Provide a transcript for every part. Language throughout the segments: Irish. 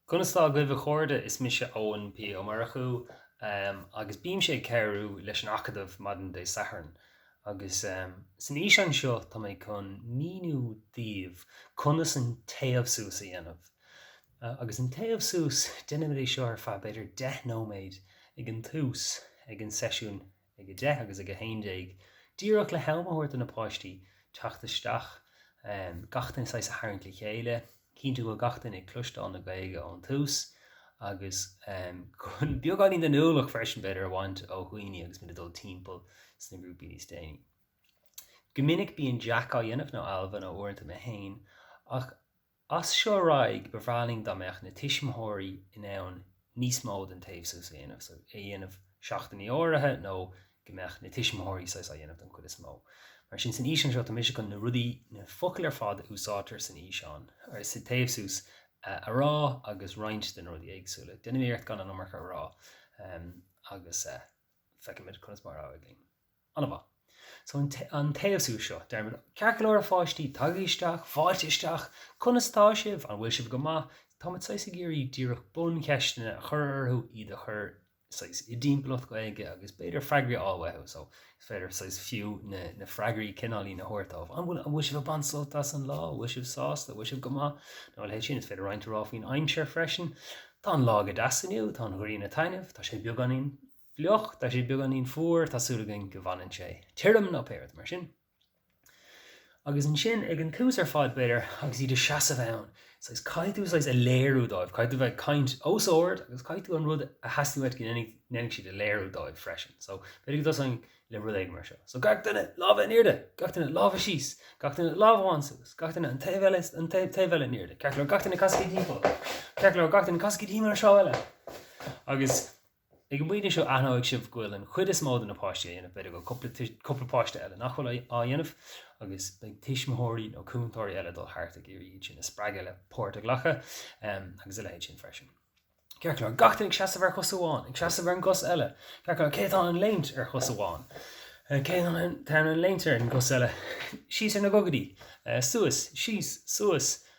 Conas tá agaibh a chairde? Is mise Eoin P. Ó Murchú agus bímse ag cabhrú leis an Acadamh maidin Dé Sathairn agus san fhíseán seo tá mé chun a mhíniú daoibh conas an téamh suas a dhéanamh. Agus an téamh suas, déanaimid é seo ar feadh b'fhéidir deich nóiméad ag an tús ag an seisiún ag 10:00 agus ag 11:00, díreach le ham a thabhairt do na páistí teacht isteach, gach duine saghas a tharraingt le chéile, cinntiú go bhfuil gach duine ag cloisteáil na Gaeilge ón tús agus chun beagáinín den ualach freisin b'fhéidir a bhaint ó dhaoine agus muid ag dul timpeall sna grúpaí níos déanaí. Go minic bíonn Jack á dhéanamh, nó Ailbhe, nó uaireanta mé féin, ach. As seo ar aghaidh, ba bhreá linn dá mbeadh na tuismitheoirí in ann níos mó den téamh suas a dhéanamh, so é a dhéanamh seachtainí áirithe nó go mbeadh na tuismitheoirí saghas á dhéanamh den chuid is mó. Mar sin, san fhíseán seo, tá mise chun na rudaí, na focail ar fad a úsáidtear san fhíseán, or sa téamh suas, a rá agus roinnt de na rudaí éagsúla. Déanaimid iarracht gan an iomarca a rá agus feicfimid conas mar a éiríonn linn. An-mhaith. So an téamh suas seo, deirimid, ceart go leor a pháistí, tagaigí isteach, fáilte isteach! Conas atá sibh? An bhfuil sibh go maith? Táimid saghas ag iarraidh díreach buncheisteanna a chur orthu, iad a chur saghas i dtimpeallacht Gaeilge agus b'fhéidir freagraí a fháil uathu. So is féidir saghas fiú na freagraí cineáilín a thabhairt dóibh. An bhfuil sibh ag baint sult as an lá? An bhfuil sibh sásta? An bhfuil sibh go maith? Nó a leithéid sin. Is féidir roinnt a rá faoin aimsir freisin. Tá an lá go deas inniu, tá an ghrian ag taitneamh, tá sé beagáinín. fliuch, tá sé beagáinín fuar, tá súil againn go bhfanann sé tirim, nó pé rud mar sin. Agus ansin, ag an tús ar fad, b'fhéidir, agus iad ina seasamh ann, saghas, caithfidh tú saghas a léiriú dóibh, caithfidh tú bheith ag caint os ard agus caithfidh tú an rud a theastaíonn uait go ndéanfaidh siad a léiriú dóibh freisin. So, b'fhéidir go dtosaím le rud éigin mar seo. So, gach duine, lámha in airde! Gach duine, lámha síos! Gach duine, lámh amháin suas! Gach duine, an taobh eile, an taobh eile in airde! Ceart go leor, gach duine casaigí timpeall! Ceart go leor, gach duine casaigí timpeall ar an treo eile! Agus. Ag an bpointe seo aithneoidh sibh go bhfuil an chuid is mó de na páistí á dhéanamh, b'fhéidir go bhfuil cúpla páiste eile nach bhfuil á dhéanamh, agus beidh tuismitheoirí nó cúntóirí eile ag dul thart ag iarraidh iad sin a spreagadh le páirt a ghlacadh agus a leithéid sin freisin. Ceart go leor, gach duine ag seasamh ar chos amháin, ag seasamh ar an gcos eile. Ceart go leor, cé atá in ann léimt ar chos amháin? Cé atá in ann léimt ar an gcos eile? Síos ar na gogaidí. Suas. Síos. Suas.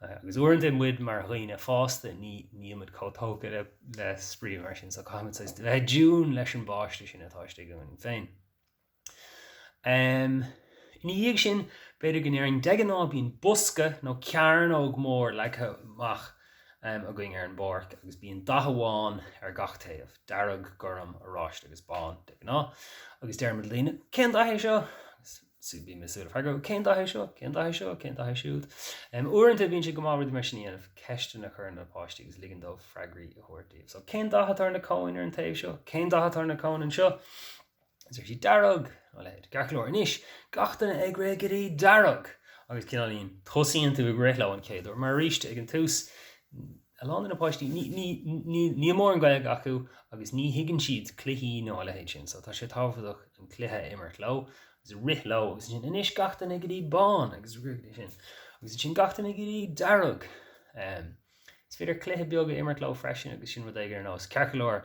Agus uaireanta muid mar dhaoine fásta, nílimid chomh tógtha le spraoi mar sin, so caithfimid saghas a bheith i dtiúin leis an bpáiste sin atá istigh ionainn féin. Ina dhiaidh sin, b'fhéidir go ndéarfainn, de ghnáth bíonn bosca nó cearnóg mór leagtha amach againn ar an bpáirc agus bíonn dath amháin ar gach taobh, dearg, gorm, oráiste agus bán, de ghnáth, agus deirimid le daoine, cén dath é seo? Sea, bím ag súil le freagra, cén dath é seo, cén dath é seo, cén dath é siúd? Uaireanta bíonn sé go maith rudaí mar sin a dhéanamh, ceisteanna a chur ar na páistí agus ligean dóibh freagraí a thabhairt daoibh. So, cén dath atá ar na cóin ar an taobh seo? Cén dath atá ar na cóin anseo? Is déarfaidh siad dearg, a leithéid. Ceart go leor, anois, gach duine ag rith go dtí dearg! Agus cineál, tosaíonn tú ag rith leo an chéad uair, mar arís, ag an tús, A lán de na páistí, níl mórán Gaeilge acu agus ní thuigeann siad cluichí nó a leithéid sin so tá sé tábhachtach an cluiche a imirt leo agus a rith leo agus ansin anois gach duine go dtí bán agus rith go dtí sin agus ansin gach duine go dtí dearg. Is féidir cluiche beag a imirt leo freisin agus sin rud éigin ar nós ceart go leor.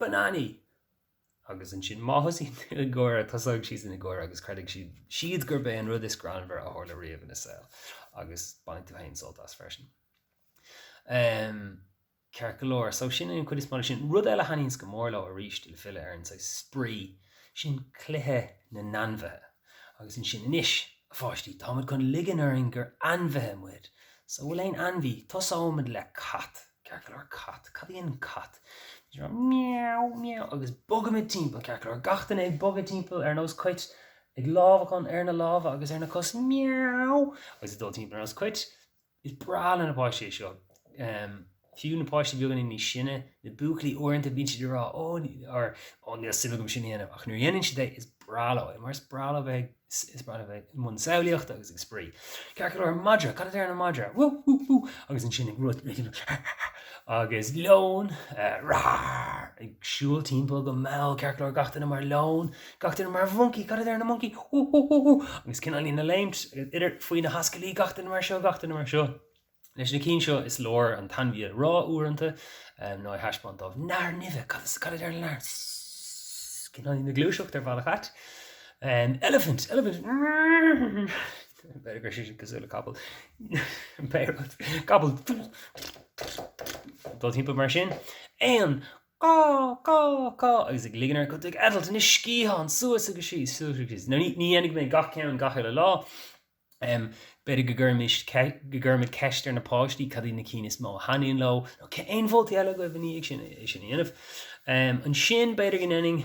bananaí! Agus ansin má thosaíonn tú ag gáire, tosóidh siadsan ag gáire agus creidfidh siad gurb é an rud is greannmhaire a tharla riamh ina saol. Agus bainfidh tú féin sult as freisin. Em, ceart go leor. So sin é an chuid is mó de sin. Rud eile a thaitníonn go mór leo, arís, le filleadh ar an saghas spraoi, sin cluiche na n-ainmhithe. Agus ansin, anois, a pháistí, táimid chun ligean orainn gur ainmhithe muid. So an bhfuil aon ainmhí, tosóimid le cat. ceart go leor cat, cad a deir an cat? Meow, meow agus bogaimid timpeall, ceart go leor gach duine ag bogadh timpeall ar nós coit, ag lámhachán ar na lámha agus ar na cos, meow, agus ag dul timpeall ar nós coit. Is breá le na páistí é seo. Fiú na páistí beagáinín níos sine, na buachaillí, uaireanta bíonn siad ag rá, 'Ó, níl suim agam sin a dhéanamh', ach nuair a dhéanann siad é, is breá leo é, mar is breá leo bheith ag. Is breá leo a bheith i mbun samhlaíochta agus ag spraoi. Ceart go leor, an madra, cad a deir an madra? Wú! Wú! Wú! agus ansin ag rith, agus leon, rar! ag siúl timpeall go mall, ceart go leor, gach duine mar leon, gach duine mar mhoncaí, cad a deir an moncaí? Wú! Wú! Wú! Wú! agus cineál ag léimt, idir, faoi na hascaillí, gach duine mar seo, gach duine mar seo. Leis na cinn seo is leor an t-ainmhí a rá uaireanta, nó a thaispeáint dóibh, Nathair nimhe! Cad is cad a deir Lear? Cineál ag gluaiseacht ar bhealach ait. Elephant! Elephant! B'fhéidir go raibh sé sin cosúil le capall. Capall ag dul timpeall mar sin. Éan! Cá! Cá! Cá! Agus ag ligean orainn go bhfuil tú ag eitilt na sciatháin suas agus síos, suas agus síos. Ní dhéanfaidh mé gach ceann gach uile lá. B'fhéidir go gcuirfimid ceist ar na páistí cad iad na cinn is mó a thaitníonn leo, nó an bhfuil aon mholtaí eile agaibh i ndiaidh sin é sin a dhéanamh? Ansin b'fhéidir go ndéanfainn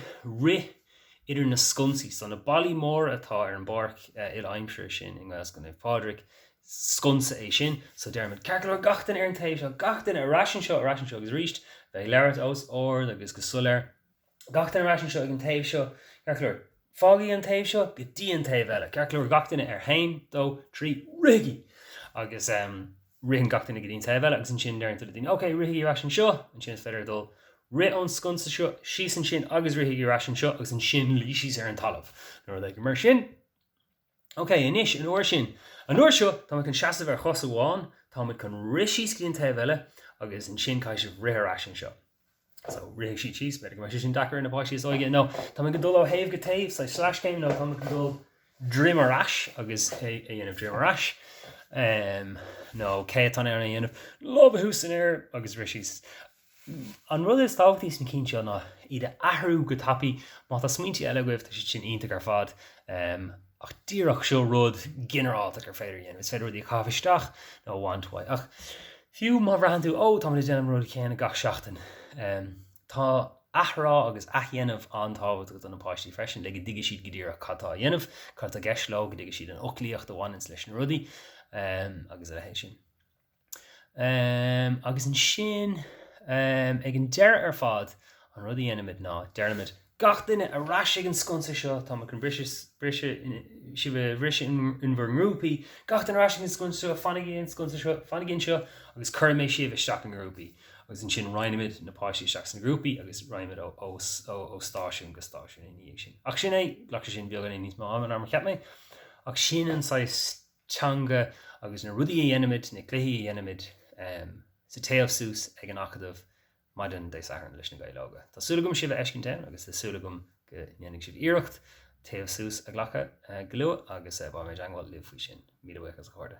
rith idir na sconsaí, so na ballaí móra atá ar an bpáirc uile-aimsire sin i nGaelscoil Naomh Pádraig, sconsa é sin, so déarfaimid 'Ceart go leor gach duine ar an taobh seo, gach duine ar ais anseo, ar ais anseo' agus arís bheith ag labhairt os ard agus go soiléir. gach duine ar ais anseo ag an taobh seo, ceart go leor, fágaigí an taobh seo go dtí an taobh eile, ceart go leor, gach duine ar haon, dó, trí, rithigí! Agus ritheann gach duine go dtí an taobh eile agus ansin deireann tú le daoine, okay, rithigí ar ais anseo, ansin is féidir dul, rith ón sconsa seo síos ansin agus rithigí ar ais anseo agus ansin luí síos ar an talamh, nó rud éigin mar sin. OK, anois, an uair sin. An uair seo, tá muid chun seasamh ar chos amháin, tá muid chun rith síos go dtí an taobh eile agus ansin caithfidh sibh rith ar ais anseo. So, rithfidh sibh síos, b'fhéidir go mbeadh sé sin deacair ar na páistí is óige. Nó, tá muid ag dul ó thaobh go taobh, saghas sleaschéim, nó tá muid ag dul droim ar ais agus é a dhéanamh droim ar ais. Um, nó, cé atá in ann é a dhéanamh? Lámha thuas san aer agus rith síos. An rud is tábhachtaí sna cinn seo ná iad a athrú go tapaidh. Má tá smaointe eile agaibh, tá siad sin iontach ar fad, ach díreach seo rud ginearálta gur féidir a dhéanamh, is féidir rudaí a chaitheamh isteach nó a bhaint uaidh. Ach fiú má bhraitheann tú, oh, táimid ag déanamh an rud chéanna gach seachtain, tá athrá agus athdhéanamh an-tábhachtach do na páistí freisin, le go dtuigfidh siad go díreach cad tá á dhéanamh, cad atá i gceist leo, go dtuigfidh siad an fhoclaíocht a bhaineann leis na rudaí, agus a leithéid sin. Eeeem agus ansin ehm ag an deireadh ar fad an rud a dhéanaimid ná deirimid Gach duine ar ais ag an sconsa seo, tá muid chun briseadh, briseadh, sibh a bhriseadh in bhur ngrúpaí, gach duine ar ais ag an sconsa seo, fanaigí ag an sconsa seo, fanaigí anseo agus cuirfidh mé sibh isteach i ngrúpaí agus ansin roinnimid na páistí isteach sna grúpaí agus roinnimid ó ó stáisiún go stáisiún ina dhiaidh sin. Ach sin é, ghlac sé sin beagáinín níos mó ama ná mar a cheap mé ach sin an saghas teanga agus na rudaí a dhéanaimid, na cluichí a dhéanaimid sa téamh suas ag an Acadamh maidin Dé Sathairn leis na Gaeil Óga. Tá súil agam sibh a fheiscint ann agus tá súil agam go ndéanfaidh sibh iarracht téamh suas a ghlacadh go luath agus beimid i dteagmháil libh faoi sin. Míle buíochas a chairde.